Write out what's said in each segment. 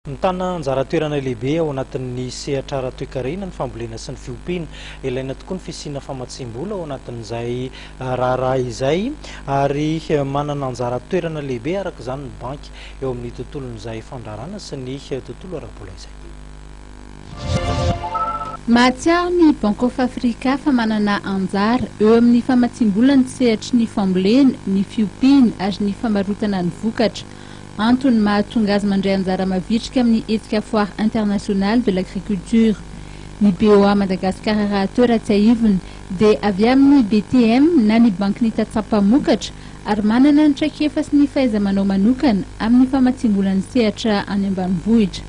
Mitana anjara toerana lehibe ao anatin'ny sehatra ara-toekarena ny fambolena sy ny fiompiana. Ilaina tokoa ny fisiana famatsiam-bola ao anatin'izay raharaha izay ary manana anjara toerana lehibe araka izany ny banky eo amin'ny tontolon'izay fandrarana sy ny tontolo ara-bola izay. Mahatsiaro ny Bank of Africa fa manana anjara eo amin'ny famatsiam-bola ny sehatry ny fambolena, ny fiompiana ary ny famarotana ny vokatra. Antony mahatonga azy mandray anjara mavitrika amin'ny hetsika Foire Internationale de l'Agriculture. Ny BOA Madagascar rahateo raha tsiahivina dia avy amin'ny BTM na ny Bankin'ny Tantsaha Mpamokatra ary manana ny traikefa sy ny fahaiza-manao manokana amin'ny famatsiam-bola ny sehatra any ambanivohitra.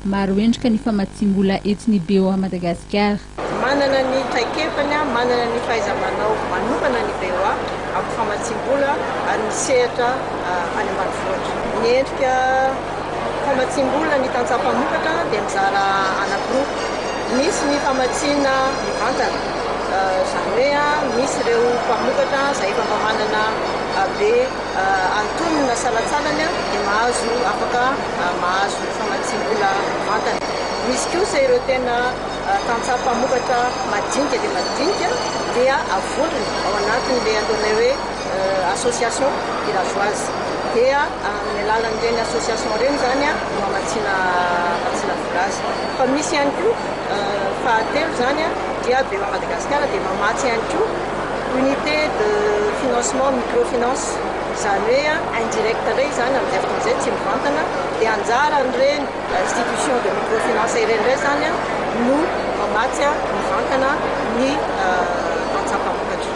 Maro endrika ny famatsiam-bola eto ny BOA Madagascar. Manana ny traikefany, manana ny fahaiza-manao manokana ny VOA amin'ny famatsiam-bola ary ny sehatra any ambanivohitra. Ny endrika famatsiam-bola ny tantsaha mpamokatra dia mizara anankiroa. Misy ny famatsiana mivantana, izany hoe misy ireo mpamokatra izay efa mba manana be antonona salatsalany dia mahazo afaka mahazo famatsiam-bola mivantana. Misy kosa ireo tena tantsaha mpamokatra madinika dia madinika dia avolony ao anatin'ilay ataonay hoe association villageoise dia amin'ny alalan'ireny association ireny izany no hamatsiana hamatsiana vola azy fa misy ihany koa fahatelo izany dia Bema Madagasikara dia mamatsy ihany koa unité de financement microfinance izany hoe indirect indray izany amin'izay fotoana izay tsy mivantana dia anjaran'ireny institution de microfinance ireny indray izany no mamatsy mivantana ny antsampavokatra.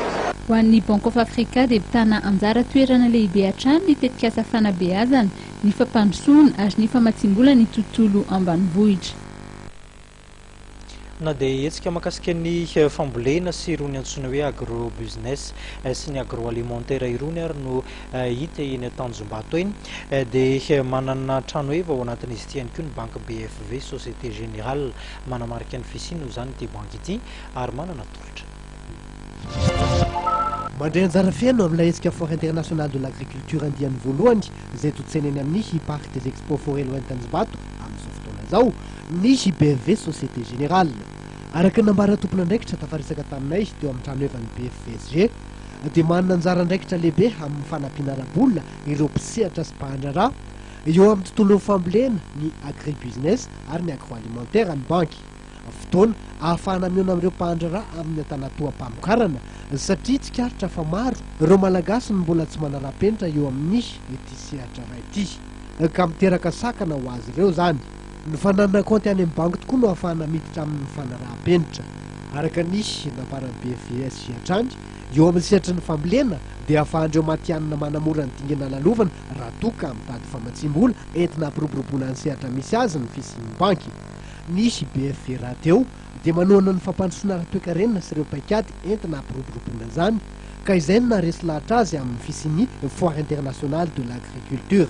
Ho an'ny Bank of Africa dia mitana anjara toerana lehibe hatrany ny tetikasa fanabeazana, ny fampandrosoana ary ny famatsiam-bola ny tontolo ambanivohitra. Na dia hetsika makasika ny fambolena sy irony antsoina hoe agro-business sy ny agro-alimentaire irony ary no hita eny Tanjombato eny dia manana tranoheva ao anatin'izy ity ihany koa ny banky BFV, Société Générale. Manamarika ny fisiany ho izany ity banky ity ary manana tolotra. Mandray anjara feno amin'ilay hetsika Foire Internationale de l'Agriculture andiany voalohany izay tontsena eny amin'ny Parc des Expos Forello Entanjbato amin'izao fotoana izao ny BFV Société Générale. Araka ny nambaran'ny tompon'andraikitra tafaresaka taminay teo amin'ny tranohevan'ny BFVSG dia manana anjara andraikitra lehibe amin'ny fanampiana ara-bola ireo mpisehatra sy mpahandraraha eo amin'ny tontolon'ny fambolena, ny agribusiness ary ny agroalimentaire ny banky. fotoana ahafahana mihaona amin'ireo mpahan-draharaha amin'ny antanatoham-pamokarana satria tsikaritra fa maro ireo Malagasy no mbola tsy manara-penitra eo amin'ny ity sehatra iray ity ka miteraka sakana ho azy ireo izany. Ny fananana kaonty any amin'ny banky tokoa no ahafahana miditra amin'ny fanaraha-penitra. Araka ny nambaran'ny BFVS hatrany, eo amin'ny sehatry ny fambolena dia ahafahan'ireo matihanina manamora ny dingana lalovana raha toa ka mitady famatsiam-bola entina hampiroboroboana ny sehatra misy azy ny fisian'ny banky. Nisy i BFV raha teo dia manohana ny fampandrosoana ara-toekarena sy ireo paikady entina hampiroboroboana izany, ka izay no naharesy lahatra azy amin'ny fisian'ny Foire internationale de l'agriculture.